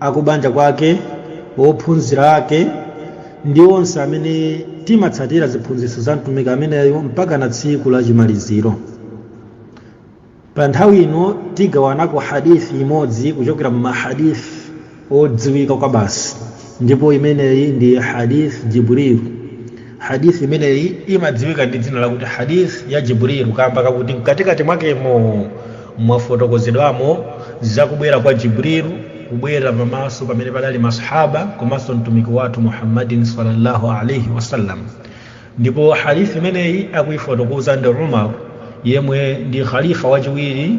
akubanja kwake ophunzira ake ndi onse amene timatsatira ziphunzitso za mtumiki ameneyo mpaka na tsiku la chimaliziro pa nthawi ino tigawanako hadithi imodzi kuchokera mmahadithi odziwika kwa basi ndipo imeneyi ndi hadith jibril hadith imeneyi imadziwika ndi dzina lakuti hadith ya jibril kamba kakuti mkatikati mwakemo mwafotokozedwamo zakubwera kwa jibril kubwera pamaso pamene padali masahaba komanso mtumiki wathu muhammadin sallallahu alaihi wasallam ndipo hadith imeneyi akuifotokoza ndi umar yemwe ndi khalifa wachiwiri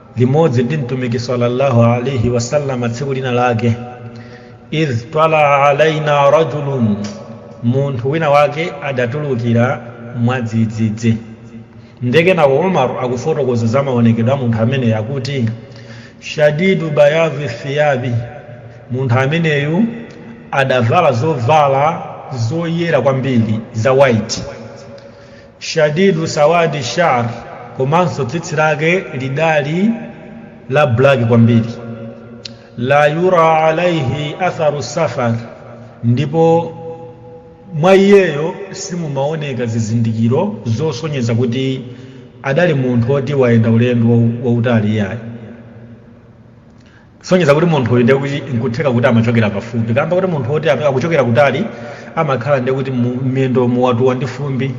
limodzi ndi mtumiki sallallahu alaihi wasallama tsiku lina lake idh twala alaina rajulun munthu wina wake adatulukira mwadzidzidzi nde kenako umaru akufotokoza za maonekedwe a munthu ameneyo akuti shadidu bayadhi thiyabi munthu ameneyu adavala zovala zoyera kwambiri za white shadidu sawadi shar komanso tsitsi lake lidali la black kwambiri la yura alaihi atharu safar ndipo mwa iyeyo simumaoneka zizindikiro zosonyeza kuti adali munthu woti wayenda ulendo wautali yayi kusonyeza kuti munthu uyu ndekuti nkutheka kuti amachokera pafupi kamba kuti munthu woti akuchokera kutali amakhala ndekuti mmiyendo muwatuwa ndi fumbi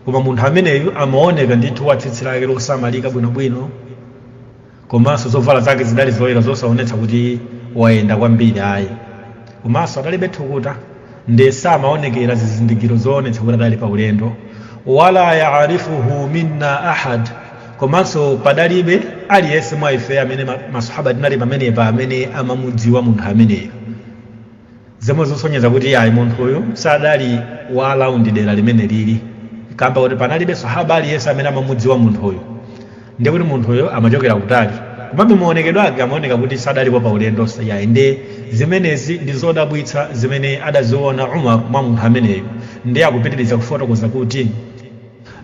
koma munthu ameneyu amaoneka ndithu wa tsitsi lake losamalika bwinobwino komanso zovala zake zidali zoyera zosaonetsa kuti wayenda kwambiri ayi komanso adalibe thukuta nde samaonekera zizindikiro zoonetsa kuti adali pa ulendo wala yaarifuhu minna ahad komanso padalibe aliyense mwa ife amene masahaba tinali pamenepa amene amamudziwa munthu ameneyo zomwe zosonyeza kuti ayi munthu uyu sadali wa alaundi dera limeneli kamba kuti panalibe sahaba aliyense amene amamudziwa munthu uyu ndiye kuti munthuyo amachokera kutali komabe maonekedwe ake amaoneka kuti sadalipo pa ulendo iyayi nde zimenezi ndi zodabwitsa zimene adaziona umar mwa munthu ameneyo ndiye akupitiriza kufotokoza kuti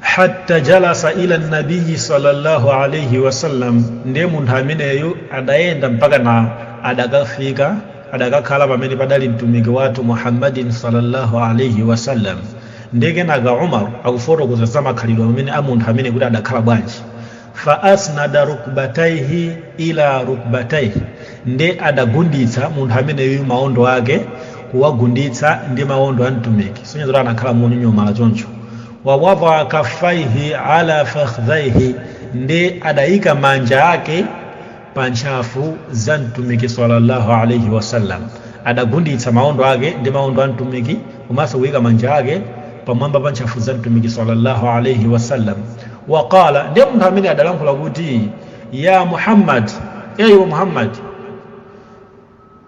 hatta jalasa ila nabiyi sallallahu alaihi wasallam ndiye munthu ameneyo adayenda mpaka na adakafika adakakhala pamene padali mtumiki wathu muhammadin sallallahu alaihi wasallam Ndiye kenaka Umar akufotokoza za makhalidwe amene a munthu ameneyu kuti adakhala bwanji, Fa asnada rukbataihi ila rukbataihi, ndiye adagunditsa munthu ameneyu maondo ake kuwagunditsa ndi maondo a Mtumiki, kusonyeza kuti anakhala monyonyomala choncho, wa wadaa kaffaihi ala fakhdhaihi, ndiye adaika manja ake. pa ntchafu za mtumiki sallallahu alaihi wasallam adagunditsa maondo ake ndi maondo a mtumiki komanso kuyika manja ake pamwamba pa ntchafu za mtumiki sallallahu alaihi wasallam waqala ndiye munthu ameneyu adalankhula kuti ya muhammad e iwe muhammad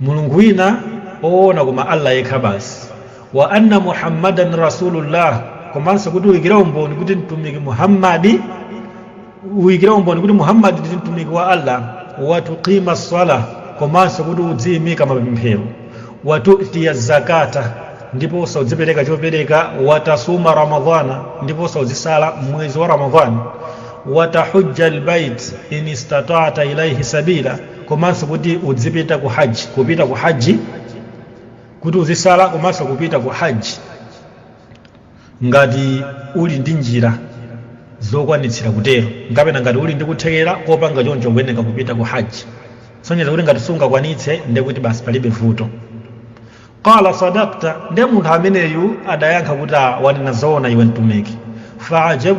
mulungu wina oona koma Allah yekha basi wa anna muhammadan rasulullah komanso kuti uyikire umboni kuti mtumiki muhammadi uyikire umboni kuti muhammadi ndi mtumiki wa Allah watuqima swala komanso kuti udziyimika mapemphero watutiya zakata ndipo uza- udzipereka chopereka watasuma ramadhana ndipo uza- udzisala mmwezi wa ramadhani watahujja albayt in istata'ta ilayhi sabila komanso kuti udzipita ku haji kupita ku haji kuti udzisala komanso kupita ku haji ngati uli ndi njira zokwanitsira kutero kapena ngati uli ndi kuthekera kopanga choncho kuyeneka kupita ku haji sonyeza kuti ngati sungakwanitse ndekuti basi palibe vuto qala sadakta nde munthu ameneyu adayankha kuti "Ah, wanena zoona iwe mtumiki faajab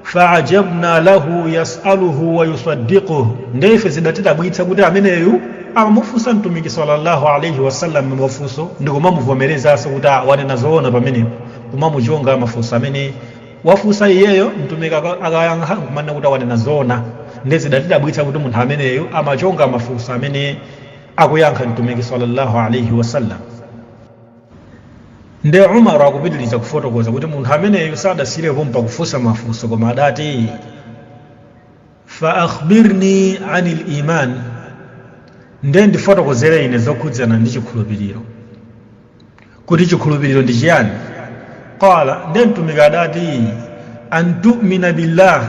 faajabna lahu yasaluhu wa yusaddiquhu nde ife zidatidabwitsa kuti ameneyu amamufunsa mtumiki sallallahu alaihi wasallam mafunso ndi kumamuvomerezanso kuti "Ah, wanena zoona pamenepo kumamuchonga mafunso amene wafunsa iyeyo mtumiki aka- akayankha kumanena kuti "Ah, wanena zoona nde zidatidabwitsa kuti munthu ameneyu amachonga mafunso amene akuyankha mtumiki sallallahu alaihi wasallam nde umar akupitiriza kufotokoza kuti munthu ameneyu sadasiyire pompa pa kufunsa mafunso koma adati fa akhbirni anil iman nde ndifotokozere ine zokhudzana ndi chikhulupiriro kuti chikhulupiriro ndi chiyani qala ndiye mtumiki adati antumina billah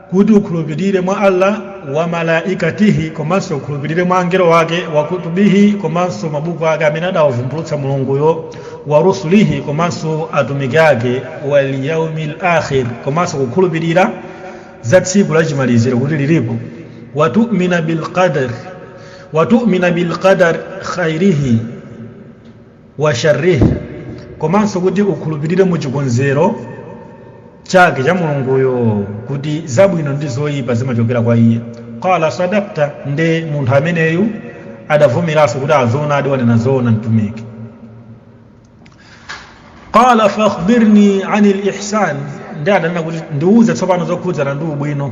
kuti ukhulupirire mwa allah wa malaikatihi komanso ukhulupirire mwa angelo wake wa kutubihi komanso mabuku ake amene adawavumbulutsa mulunguyo wa rusulihi komanso atumiki ake wal yaumil akhir komanso kukhulupirira za tsiku lachimaliziro kuti lilipo watumina bilqadr wa tu'mina bil qadar khairihi wa sharrihi komanso kuti ukhulupirire mu chikonzero chake cha mulunguyo kuti zabwino ndi zoyipa zimachokera kwa iye qala sadakta nde munthu ameneyu adavomeranso kuti a zoonadi wanena zoona mtumiki qala fakhbirni ani lihsan nde adanena kuti ndiuze tsopano zokhudzana ndi ubwino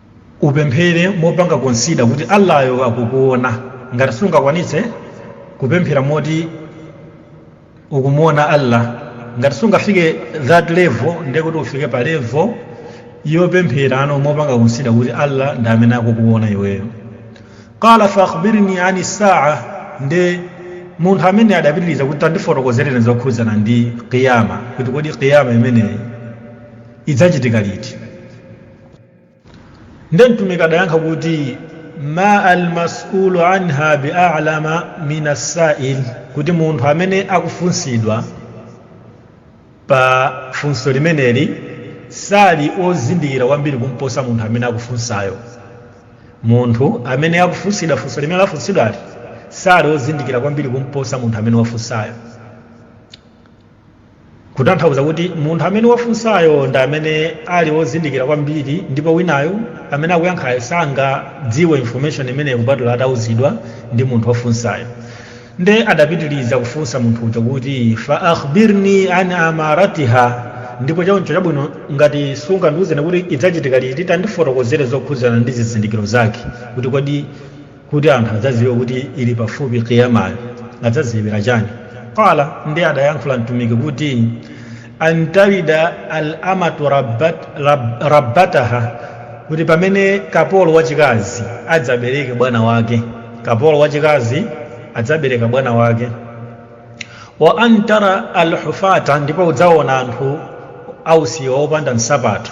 upemphere mopanga konsida kuti allah yo akukuona ngati sungakwanitse kupemphera moti ukumuona allah ngati sungafike that level ndiye kuti ufike pa level yopempherano mopanga konsida kuti allah ndi amene akukuona iweyo qala faakhbirni ani saa ndi munthu amene adapitiriza kuti tandifotokozereni zokhudzana ndi qiyama kuti kodi qiyama imeneyi idzachitika liti nde mtumiki adayankha kuti ma almas'ulu anha bialama min assa'il kuti munthu amene akufunsidwa pa funso limeneli sali ozindikira kwambiri kumposa munthu amene akufunsayo munthu amene akufunsidwa funso limene lafunsidwali sali ozindikira kwambiri kumposa munthu amene wafunsayo kutanthauza kuti munthu amene wafunsayo ndi amene ali wozindikira kwambiri ndipo winayo amene akuyankhayo sangadziwe information imeneyo kupatula atauzidwa ndi munthu wafunsayo nde adapitiriza kufunsa munthu uja kuti fa akhbirni an amaratiha ndipo choncho chabwino ngati sungandiuzeni kuti idzachitika liti tandifotokozere zokhudzana ndi zizindikiro zake kuti kodi kuti anthu adzadziwe kuti ili pafupi qiyamayo adzadziwira chani qala nde adayankhula mtumiki kuti antalida al amatu rabbataha kuti pamene kapolo wachikazi adzabereke bwana wake kapolo wachikazi adzabereka bwana wake wa antara alhufata ndipo udzaona anthu ausiwa opanda nsapato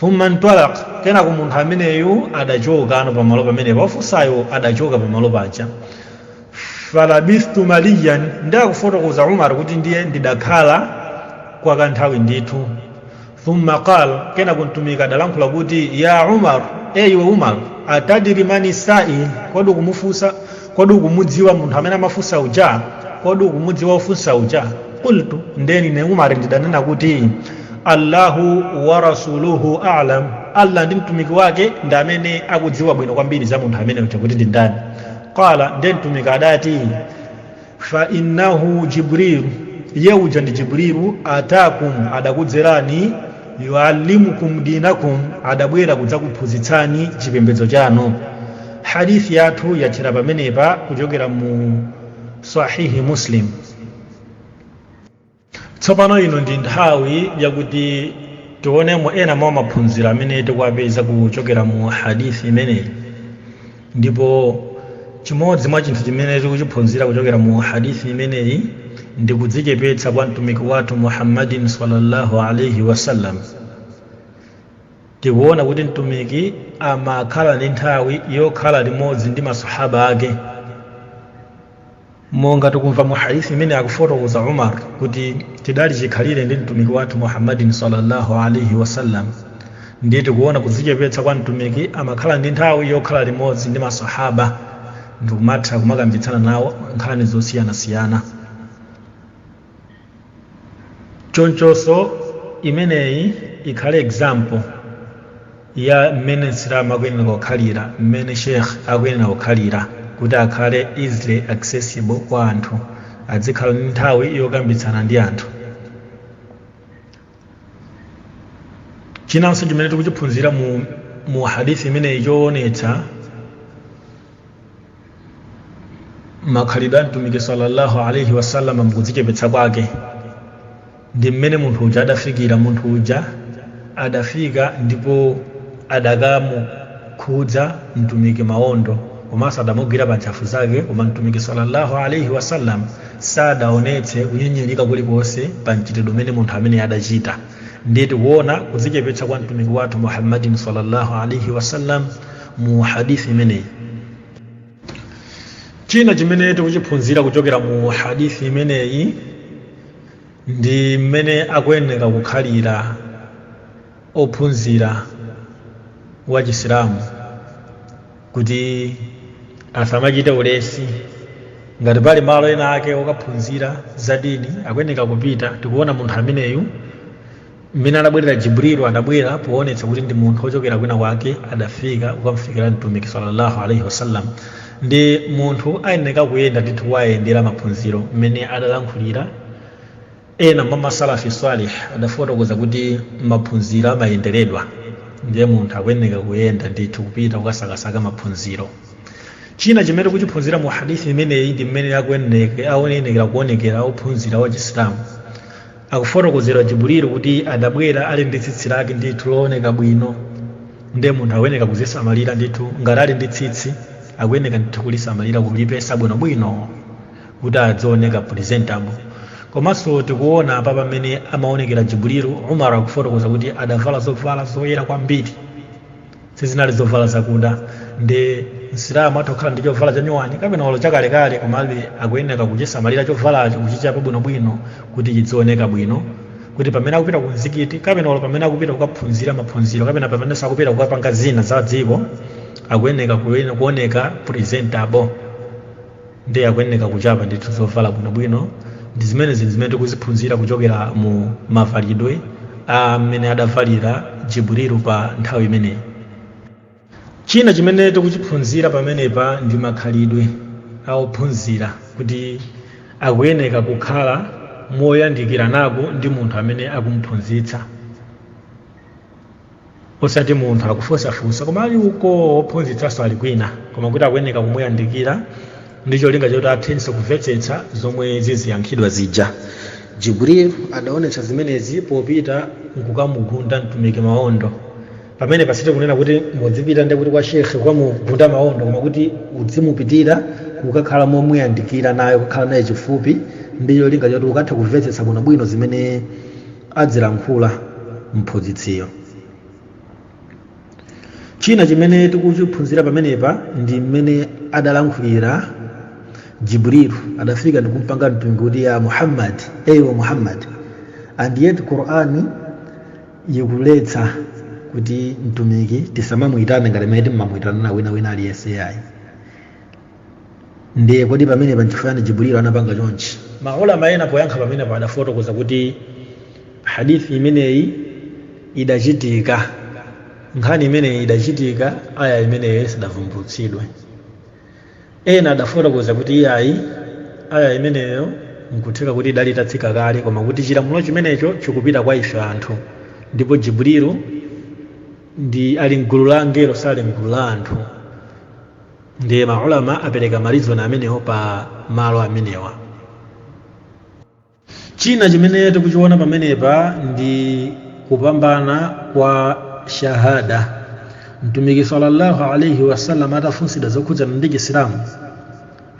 thumma ntalaq kenako munthu ameneyu adachokano pamalo pamenepo wafunsayo adachoka pamalo paja falabithtu maliyan nde akufotokoza umar kuti ndiye ndidakhala kwa kanthawi ndithu thumma qal kenako mtumiki adalankhula kuti ya umar e iwe umar atadri mani sa'il kodi ukumufunsa kodi ukumudziwa munthu amene amafunsa uja kodi ukumudziwa ofunsa uja qultu nde ine umar ndidanena kuti allahu wa rasuluhu a'lam allah ndi mtumiki wake ndi amene akudziwa bwino kwambiri za munthu amene uja kuti ndi ndani qala ndiye mtumiki adati fa innahu jibrilu iye uja ndi jibrilu atakum adakudzerani yuallimukum dinakum adabwera kudzakuphunzitsani chipembedzo chanu hadithi yathu yathera pamenepa kuchokera mu sahihi muslim tsopano ino ndi nthawi yakuti tionemo ena mwa maphunziro amene tikuwapeza kuchokera mu hadithi imeneyi ndipo chimodzi mwa chinthu chimene tikuchiphunzira kuchokera mu hadithi imeneyi ndi kudzichepetsa kwa mtumiki wathu muhammadin sallallahu alaihi wasallam tikuona kuti mtumiki amakhala ndi nthawi yokhala limodzi ndi masahaba ake monga tikumva mu hadithi imene akufotokoza umar kuti tidali chikhalire ndi mtumiki wathu muhammadin sallallahu alaihi wasallam ndiye tikuona kudzichepetsa kwa mtumiki amakhala ndi nthawi yokhala limodzi ndi masahaba ndikumatha kumakambitsana nawo nkhani zosiyanasiyana chonchonso imeneyi ikhale example ya mmene msilamu akuyenera kukhalira mmene sheikh akuyenera kukhalira kuti akhale easily accessible kwa anthu adzikhala ndi nthawi yokambitsana ndi anthu chinanso chimene tikuchiphunzira mu, mu hadithi imeneyi choonetsa makhalidwe a mtumiki sallallahu alaihi wasallam mukudzichepetsa kwake ndi mmene munthu uja adafikira munthu uja adafika ndipo adakamukhudza mtumiki maondo komanso adamugwira pa ntchafu zake koma mtumiki sallallahu alaihi wasallam sadaonetse kunyinyirika kulikonse pa mchitidwe umene munthu amene adachita ndiye tikuona kudzichepetsa kwa mtumiki wathu muhammadin sallallahu alaihi wasallam mu hadithi imeneyi china chimene tikuchiphunzira kuchokera mu hadithi imeneyi ndi mmene akuyeneka kukhalira wophunzira wa chisilamu kuti asamachite ulesi ngati pali malo ena ake okaphunzira za dini akuyeneka kupita tikuona munthu ameneyu mmene adabwerera jibrilu adabwera poonetsa kuti ndi munthu wochokera kwina kwake adafika kukamfikira mtumiki sallallahu alaihi wasallam nde munthu ayeneka kuyenda ndithu kuyendera maphunziro mmene adalankhulira ena mwa masalafi salih adafotokoza kuti maphunziro amayenderedwa ndiye munthu akuyeneka kuyenda ndithu kupita kukasakasaka maphunziro china chimene tikuchiphunzira mu hadithi imeneyi ndi mmene akuyeneke- ayenekera kuonekera wophunzira wa chisilamu akufotokozedwa jibulilu kuti adabwera ali ndi tsitsi lake ndithu looneka bwino nde munthu akuyeneka kuzisamalira ndithu ngati ali ndi tsitsi akuyeneka ndithu kulisamalira kulipesa bwinobwino kuti adzioneka presentable komanso tikuona apa pamene amaonekera jibulilu umar akufotokoza kuti adavala zovala zoyera kwambiri sizinali zovala zakuda ndi msilamu atha kukhala ndi chovala chanyuwani kapena olo chakalekale komabe akuyenera kuchisamalira chovalacho kuchichapa bwinobwino kuti chidzioneka bwino kuti pamene akupita ku mzikiti kapena olo pamene akupita kukaphunzira maphunziro kapena pamene akupita kukapanga zina za dziko akuyenera kuoneka presentable ndiye akuyeneka kuchapa ndithu zovala bwinobwino ndi zimene zinthu zimene tikuziphunzira kuchokera mu mavalidwe a mmene adavalira jibrilu pa nthawi imeneyi china chimene tikuchiphunzira pamenepa ndi makhalidwe a ophunzira kuti akuyeneka kukhala moyandikiranako ndi munthu amene akumuphunzitsa osati munthu akufunsafunsa koma ali uko ophunzitsanso ali kwina koma kuti akuyeneka kumuyandikira ndi cholinga choti athenso kumvetsetsa zomwe ziziyankhidwa zija jibril adaonetsa zimenezi popita nkukamugunda mtumiki maondo pamenepa sitikunena kuti mudzipita ndithu kwa shekhe kukamugunda maondo koma kuti udzimupitira kukakhala momuyandikira naye kukhala naye chifupi ndi cholinga choti ukathe kumvetsetsa bwinobwino zimene adzilankhula mphunzitsiyo china chimene tikuchiphunzira pamenepa ndi mmene adalankhulira jibrilu adafika ndikumpanga mtumiki kuti ya muhammad iwe muhammad and yet qur'ani ikuletsa kuti mtumiki tisamamuyitane ngati mmene timayitanirana wina wina aliyense yayi ndiye kodi pamenepa nchifukwa chani jibrilu anapanga chonchi maulama ena poyankha pamenepa adafotokoza kuti hadithi imeneyi idachitika nkhani imeneyi idachitika aya imeneyo isidavumbulutsidwe ena adafotokoza kuti iyayi aya imeneyo nkutheka kuti idali itatsika kale koma kuti chilamulo chimenecho chikupita kwa ife anthu ndipo jibrilu ndi ali mgulu la angelo sali mgulu la anthu ndiye maulama apereka marizoni amenewo pa malo amenewa china chimene tikuchiona pamenepa ndi kupambana kwa shahada mtumiki sallallahu alaihi wasallam atafunsidwa zokhudzana ndi chisilamu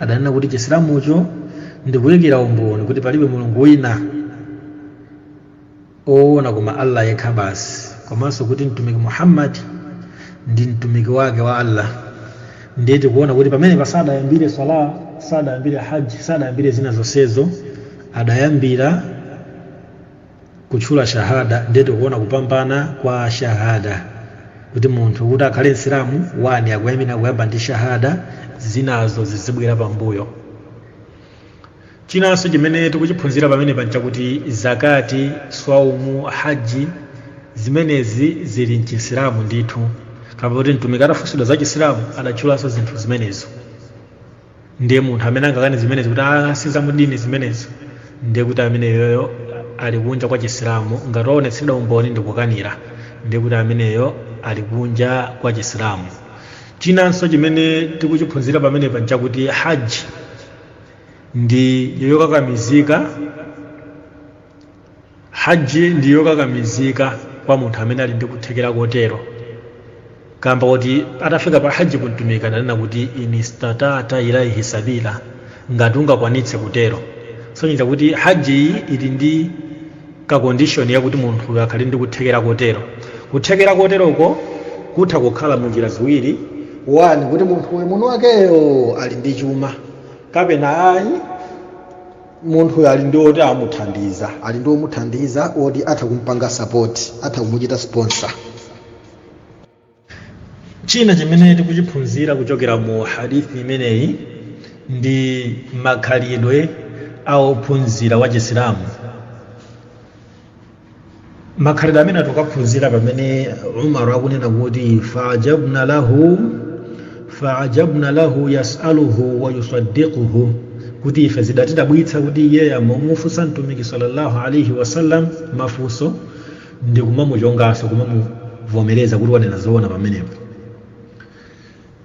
adanena kuti chisilamucho ndikuyikira umboni kuti palibe mulungu wina oona koma Allah yekha basi komanso kuti Mtumiki Muhammad ndi mtumiki wake wa Allah ndiye tikuona kuti pamenepa sadayambire swala sadayambire haji sadayambire zina zonsezo adayambira kutchula shahada ndiye tikuona kupambana kwa shahada kuti munthu kuti akhale msilamu wani akuyenera kuyamba ndi shahada zinazo zizibwera pambuyo chinanso chimene tikuchiphunzira pamenepa nchakuti zakati swaumu haji zimenezi zili mchisilamu ndithu kapena kuti mtumiki atafunsidwa za chisilamu adatchulanso zinthu zimenezo ndiye munthu amene angakane zimenezi kuti a si za mu dini zimenezo ndiye kuti ameneyoyo ali kunja kwa chisilamu ngati waonetsedwa umboni ndikukanira ndiye kuti ameneyo ali kunja kwa chisilamu chinanso chimene tikuchiphunzira pamenepa nchakuti haji ndi yokakamizika hajji ndi yokakamizika kwa munthu amene ali ndi kuthekera kotero kamba kuti atafika pa hajji mtumiki adanena kuti inistatata ilaihi sabila ngati ungakwanitse kutero sonyeza kuti hajji iyi ili ndi ka condition yakuti munthuyo akhale ndi kuthekera kotero kuthekera koteroko kutha kukhala mu njira ziwiri wani kuti munthuyo mwini wakeyo ali ndi chuma kapena ayi munthuyo ali ndi oti amuthandize ali ndi omuthandiza oti atha kumpanga sapoti atha kumuchita sponsor china chimene tikuchiphunzira kuchokera mu hadithi imeneyi ndi makhalidwe a ophunzira wa chisilamu makhalidwe amene tikuphunzira pamene umaru akunena kuti faajabna lahu yasaluhu wa yusaddiquhu kuti ife zidatidabwitsa kuti iyeyo amamufunsa mtumiki sallallahu alaihi wasallam mafunso ndi kumamuchonganso kumamuvomereza kuti wanena zoona pamenepo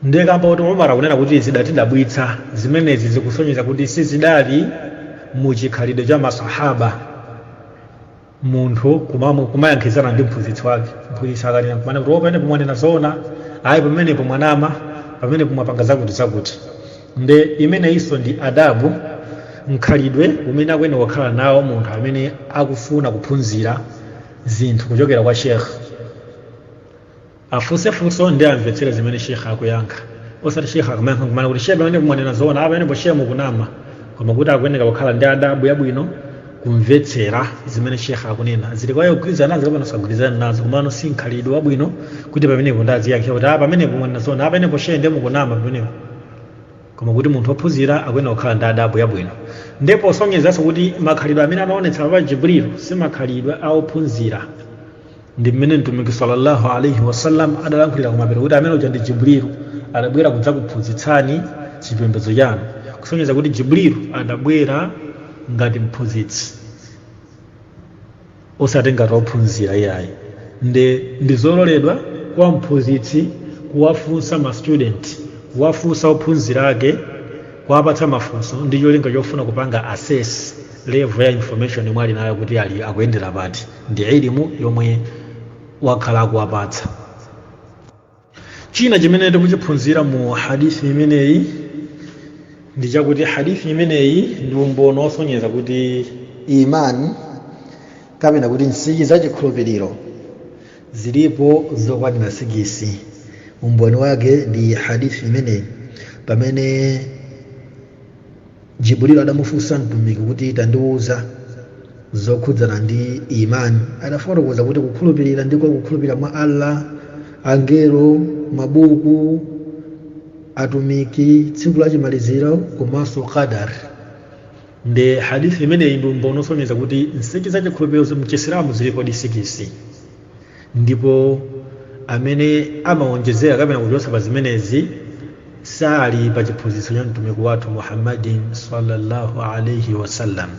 ndiye kamba kuti umar akunena kuti zidatidabwitsa zimenezi zikusonyeza kuti sizidali mu chikhalidwe cha masahaba munthu kumayankhizana ndi mphunzitsi wake mphunzitsi akanena kumanena kuti a pamenepo mwanena zoona ayi pamenepo mwanama pamenepo mwapanga zakuti zakuti nde imeneyinso ndi adabu mkhalidwe umene akuyenera kukhala nawo munthu amene akufuna kuphunzira zinthu kuchokera kwa shekh afunse funso ndi amvetsere zimene shekh akuyankha osati shekh akamayankha kumanena kuti shekh pamenepo mwanena zoona apa pamenepo shekh mukunama koma kuti akuyenera kukhala ndi adabu yabwino kumvetsera zimene shekh akunena zili kwaye kugwirizana nazo kapena kusagwirizana nazo komano si mkhalidwe wabwino kuti pamenepo ndaziyankhira kuti a pamenepo mwanena zoona a pamenepo shee ndiye mukunama pamenepo koma kuti munthu ophunzira akuyenera kukhala ndi adabu yabwino ndipo posonyezanso kuti makhalidwe amene anaonetsa apa jibril si makhalidwe a ophunzira ndi mmene mtumiki sallallahu alaihi wasallam adalankhulira kumapero kuti amene uja ndi jibrilu adabwera kudzakuphunzitsani chipembedzo chanu kusonyeza kuti jibrilu adabwera ngati mphunzitsi osati ngati ophunzira iyayi nde ndizololedwa kwa mphunzitsi kuwafunsa ma student kuwafunsa ophunzira ake kuwapatsa mafunso ndi cholinga chofuna kupanga assess level ya information yomwe ali nayo kuti akuyendera pati ndi ilimu yomwe wakhala akuwapatsa china chimene tikuchiphunzira mu hadithi imeneyi ndi chakuti hadithi imeneyi ndi umboni wosonyeza kuti imani kapena kuti nsichi za chikhulupiriro zilipo zokwanira sikisi umboni wake ndi hadithi imeneyi pamene jibril adamufunsa mtumiki kuti tandiwuza zokhudzana ndi imani adafotokoza kuti kukhulupirira ndiko kukhulupirira mwa allah angelo mabuku atumiki tsiku la chimaliziro komanso qadar nde hadithi imeneyi ndi umboni osonyeza kuti nsichi za chikhulupiriro mchisilamu zilipodi sikisi ndipo amene amawonjezera kapena kuchotsa pa zimenezi sali pa chiphunzitso cha mtumiki wathu muhammadin sallallahu alaihi wasallam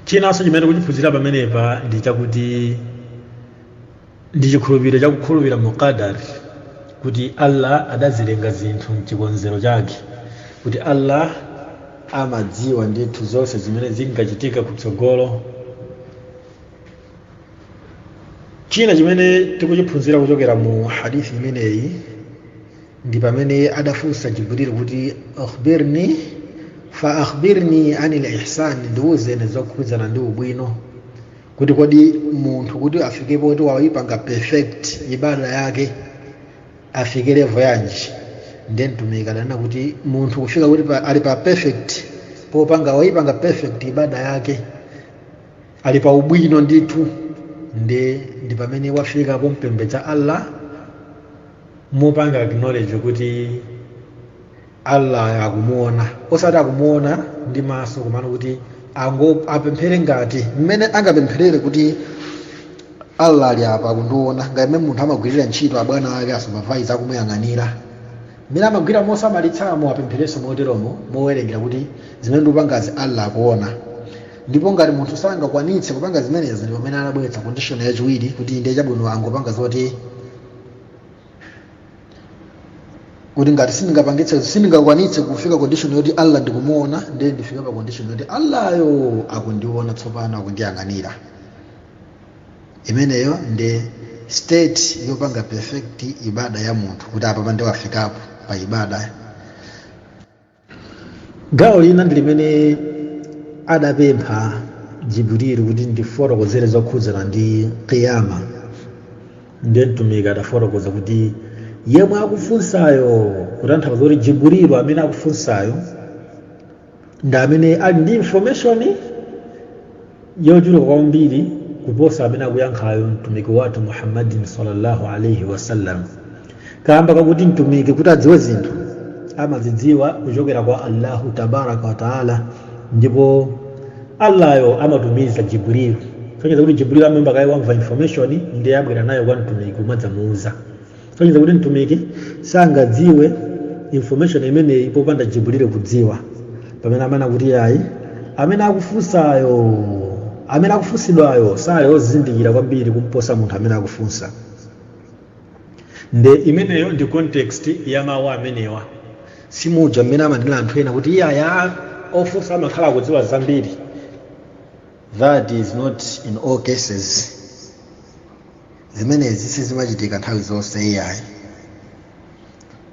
chinanso chimene tikuchiphunzira pamenepa ndi chakuti ndi chikhulupiriro chakukhulupirira mu qadar kuti allah adazilenga zinthu mchikonzero chake kuti allah amadziwa ndithu zonse zimene zingachitika kutsogolo china chimene tikuchiphunzira kuchokera mu hadithi imeneyi ndi pamene adafunsa jibril kuti akhbirni fa akhbirni anil ihsani ndiwuzeni zokhudzana ndi ubwino kuti kodi munthu kuti afike poti wayipanga perfect ibada yake afike levo yanji ndiye mtumiki adanena kuti munthu kufika kuti ali pa perfect popanga wayipanga perfect ibada yake ali pa ubwino ndithu nde ndi pamene wafika pompembedza allah mopanga acknowledge kuti allah akumuona osati akumuona ndi maso komano kuti apemphere ngati mmene angapempherere kuti allah ali apa akundiona ngati mmene munthu amagwirira ntchito abwana ake a supervisor akumuyang'anira mmene amagwira mosamalitsamo apempherenso moteromo mowerengera kuti zimene ndikupangazi allah akuona ndipo ngati munthu sangakwanitse kupanga zimenezi ndi pamene anabweretsa condition yachiwiri kuti ndiye chabwino angopanga zoti kuti ngati sindingakwanitse kufika condition yoti allah ndikumuona ndiye ndifika pa condition yoti allahyo akundiona tsopano akundiyang'anira imeneyo ndi state yopanga perfect ibada ya munthu kuti apapa nde wafikapo pa ibada gawo lina ndi limene adapempha jibril kuti ndifotokozere zokhudzana ndi kiyama ndiye mtumiki adafotokoza kuti yemwe akufunsayo kutanthauza kuti jibril amene akufunsayo ndi amene ali ndi information yochuluka kwambiri kuposa amene akuyankhayo mtumiki wathu muhammadin sallallahu alaihi wasallam kamba kakuti mtumiki kuti adziwe zinthu amazidziwa kuchokera kwa allahu tabaraka wataala ndipo allayo amatumiza jibril sonyeza kuti jibril amayamba kaye wamva information ndiye abwera nayo kwa mtumiki kumadzamuuza sonyeza kuti mtumiki sangadziwe information imeneyi popanda jibril kudziwa pamene amanena kuti iyayi amene akufunsayo amene akufunsidwayo sali ozindikira kwambiri kumposa munthu amene akufunsa nde imeneyo ndi context ya mawu amenewa simuja mmene amanena anthu ena kuti iyayi ofunsa amakhala akudziwa zambiri that is not in all cases Zimenezi sizimachitika nthawi zonse iyayi.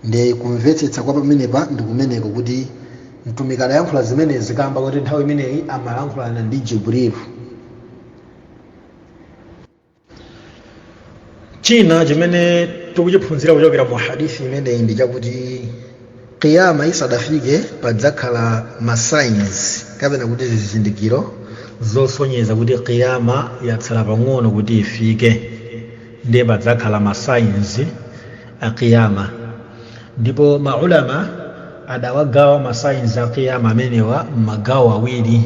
Nde kumvetsetsa kwa pamenepa ndi kumeneko kuti Mtumiki adayankhula zimenezi kaamba koti nthawi imeneyi amalankhulana ndi Jibril. China chimene tikuchiphunzira kuchokera mu hadith imeneyi ndi chakuti kiyama isadafike padzakhala ma signs kapena kuti zizindikiro zosonyeza kuti kiyama yatsala pang'ono kuti ifike ndiye padzakhala ma signs a kiyama ndipo maulama adawagawa ma signs a kiyama amenewa m'magawo awiri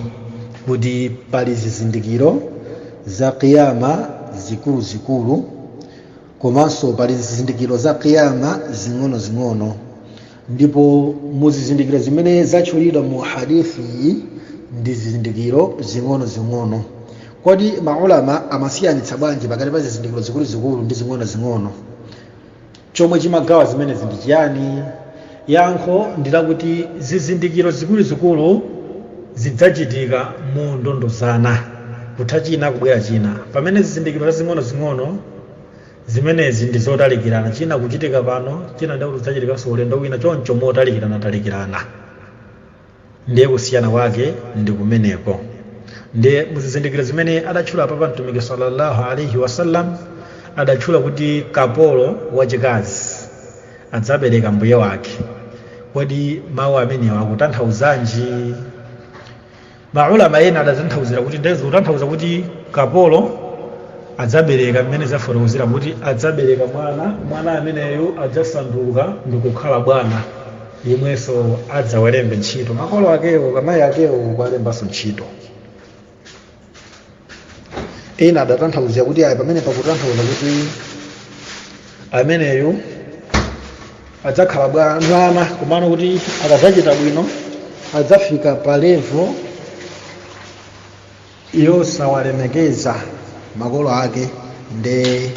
kuti pali zizindikiro za kiyama zikuluzikulu komanso pali zizindikiro za kiyama zing'onozing'ono ndipo mu zizindikiro zimene zatchulidwa mu hadithi ndi zizindikiro zing'onozing'ono kodi maulama amasiyanitsa bwanji pakati pa zizindikiro zikuluzikulu ndi zing'onozing'ono chomwe chimagawa zimenezi ndi chiyani Yankho ndi lakuti zizindikiro zikuluzikulu zidzachitika mondondozana, kutha china kubwera china, pamene zizindikiro zazing'onozing'ono zimenezi ndi zotalikirana, china kuchitika pano, china ndiye kuti chidzachitikanso ulendo wina, choncho motalikiranatalikirana. Ndiye kusiyana kwake ndi kumeneko. Ndiye muzizindikiro zimene adatchula apapa Mtumiki salla Allah alaih wasallam, adatchula kuti kapolo wachikazi adzabereka mbuye wake. Kodi mau amenewa akutanthauzanji? Ma ulama ena adatanthauzira kuti ndiye zikutanthauza kuti kapolo adzabereka mmene zafotokozera kuti adzabereka mwana, mwana ameneyo adzasanduka ndikukhala bwana. yemwenso adzawalembe ntchito makolo akewo amayi akewo kuwalembanso ntchito ena adatanthauzira kuti ayi pamene pakutanthauza kuti ameneyo adzakhala bwa- mwana komano kuti akadzachita bwino adzafika pa levo yosawalemekeza makolo ake nde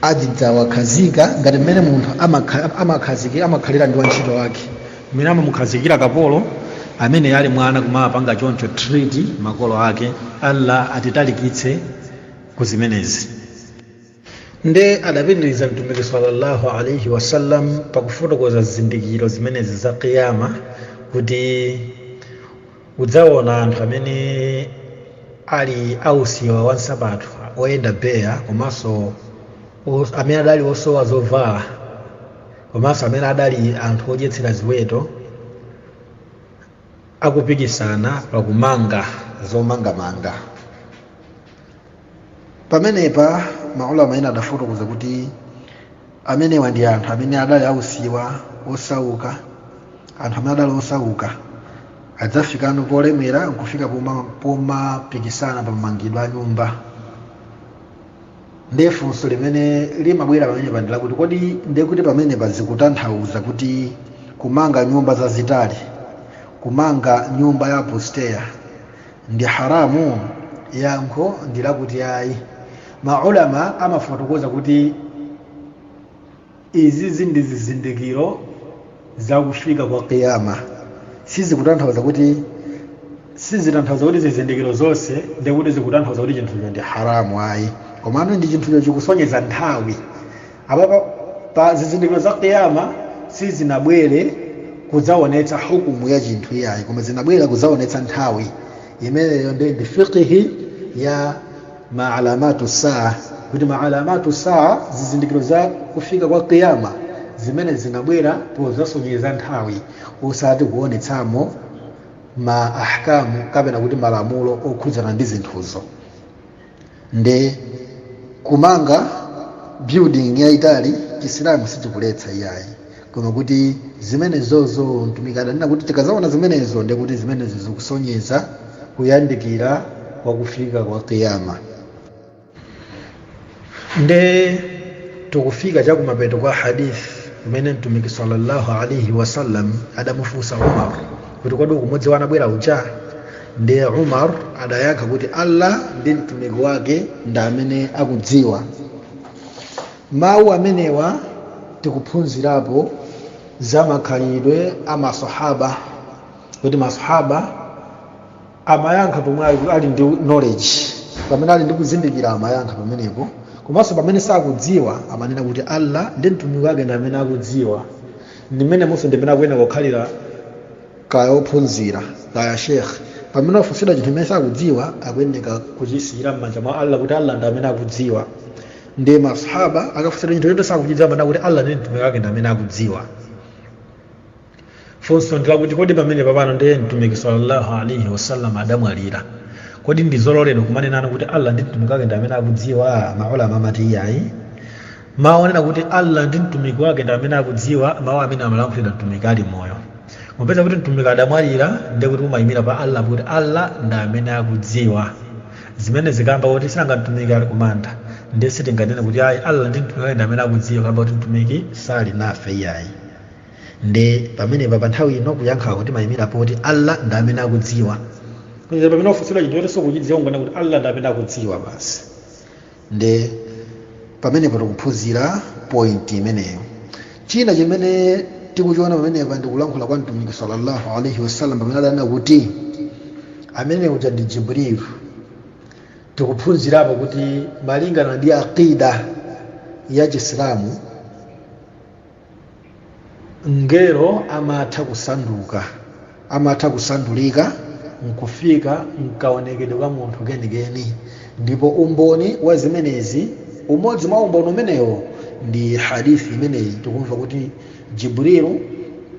azidzawakhazika ngati mmene munthu amakha- amakhaziki- amakhalira ndi wantchito wake mmene amamukhazikira kapolo amene ali mwana kumapanga choncho treat makolo ake allah atitalikitse ku zimenezi nde adapitiriza mtumiki sallallahu alaihi wasallam pakufotokoza zizindikiro zimenezi za kiyama kuti udzaona anthu amene ali ausiwa wa nsapato oyenda beya komanso os- amene adali osowa zovala komanso amene adali anthu odyetsera ziweto akupikisana pakumanga zomangamanga pamenepa maulama ena adafotokoza kuti amenewa ndi anthu amene adali ausiwa osauka anthu amene adali osauka adzafikano polemera nkufika poma- pomapikisana pamangidwe a nyumba ndiye funso limene limabwera pamenepa ndi lakuti kodi ndiye kuti pamenepa zikutanthauza kuti kumanga nyumba zazitali kumanga nyumba ya apusteya ndi haramu yankho ndi lakuti ayi maulama amafotokoza kuti izizi ndi zizindikiro za kufika kwa kiyama sizikutanthauza kuti sizitanthauza kuti zizindikiro zonse nde kuti zikutanthauza kuti chinthucho ndi haramu ayi komano ndi chinthucho chikusonyeza nthawi apapa zizindikiro za kiyama sizinabwere kudzaonetsa hukumu ya chinthu iyayi koma zinabwera kudzaonetsa nthawi imeneyo ndi ndi fiqhi ya ma alamatu saa kuti ma alamatu saa zizindikiro za kufika kwa kiyama zimene zinabwera pozasonyeza nthawi osati kuonetsamo ma ahkamu kapena kuti malamulo okhudzana ndi zinthuzo nde kumanga building yaitali chisilamu sichikuletsa iyayi koma kuti zimenezozo mtumiki adanena kuti tikazaona zimenezo ndiye kuti zimenezo zikusonyeza kuyandikira kwa kufika kwa kiyama nde tikufika chakumapeto kwa hadith kumene mtumiki sallallahu alaihi wasallam adamufunsa umar kuti kodi ukumudziwa anabwera uja ndiye umar adayankha kuti allah ndi mtumiki wake ndi amene akudziwa Mawu amenewa tikuphunzirapo za makhalidwe a masahaba kuti masahaba amayankha pomwe ali- ali ndi knowledge pamene ali ndi kuzindikira amayankha pamenepo komanso pamene sakudziwa amanena kuti allah ndi mtumiki wake ndi amene akudziwa ndimenemonso ndimene akuyenera kukhalira kaya ophunzira kaya shekhe pamene wafunsidwa chinthu chimene sakudziwa akuyenera kuchisiyira m'manja mwa allah kuti allah ndi amene akudziwa nde masahaba akafunsidwa chinthu choti sakuchidziwa amanena kuti allah ndi mtumiki wake ndi amene akudziwa funso ndi lakuti kodi pamene papano ndiye mtumiki sallallahu alaihi wasallam adamwalira kodi ndi zololedwa kumanena kuti allah ndi mtumiki wake ndi amene akudziwa maulama amati iyayi mawu onena kuti allah ndi mtumiki wake ndi amene akudziwa mawu amene amalankhulidwa mtumiki ali moyo popeza kuti mtumiki adamwalira ndiye kuti umayimira pa allah kuti allah ndi amene akudziwa Zimenezi kamba koti sinanga Mtumiki ali kumanda, ndiye sitingathe nena kuti ayi Allah ndi Mtumiki wake ndi amene akudziwa kamba koti Mtumiki sali nafe iyayi. Nde pamenepa pa nthawi ino kuyankha kwake timayimira poti Allah ndi amene akudziwa. Kuchita pamene wafunsidwa chinthu choti sukuchidziwa unganene kuti Allah ndi amene akudziwa basi. nde pamenepo tikuphunzira point imeneyo china chimene tikuchiona pamenepa ndikulankhula kwa mtumiki sallallahu alaihi wasallam pamene adanena kuti amene uja ndi jibrilu tikuphunzirapo kuti malingana ndi aqida ya chisilamu mngelo amatha kusanduka amatha kusandulika nkufika mkaonekedwe ka munthu kenikeni ndipo umboni wa zimenezi umodzi mwa umboni umenewo ndi hadithi imeneyi tikumva kuti jibrilu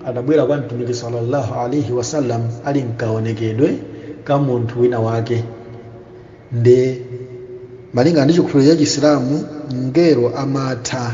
adabwera kwa mtumiki sallallahu alaihi wasallam ali mkaonekedwe ka munthu wina wake nde malingana ndi chikhulupiriro cha chisilamu mngelo amatha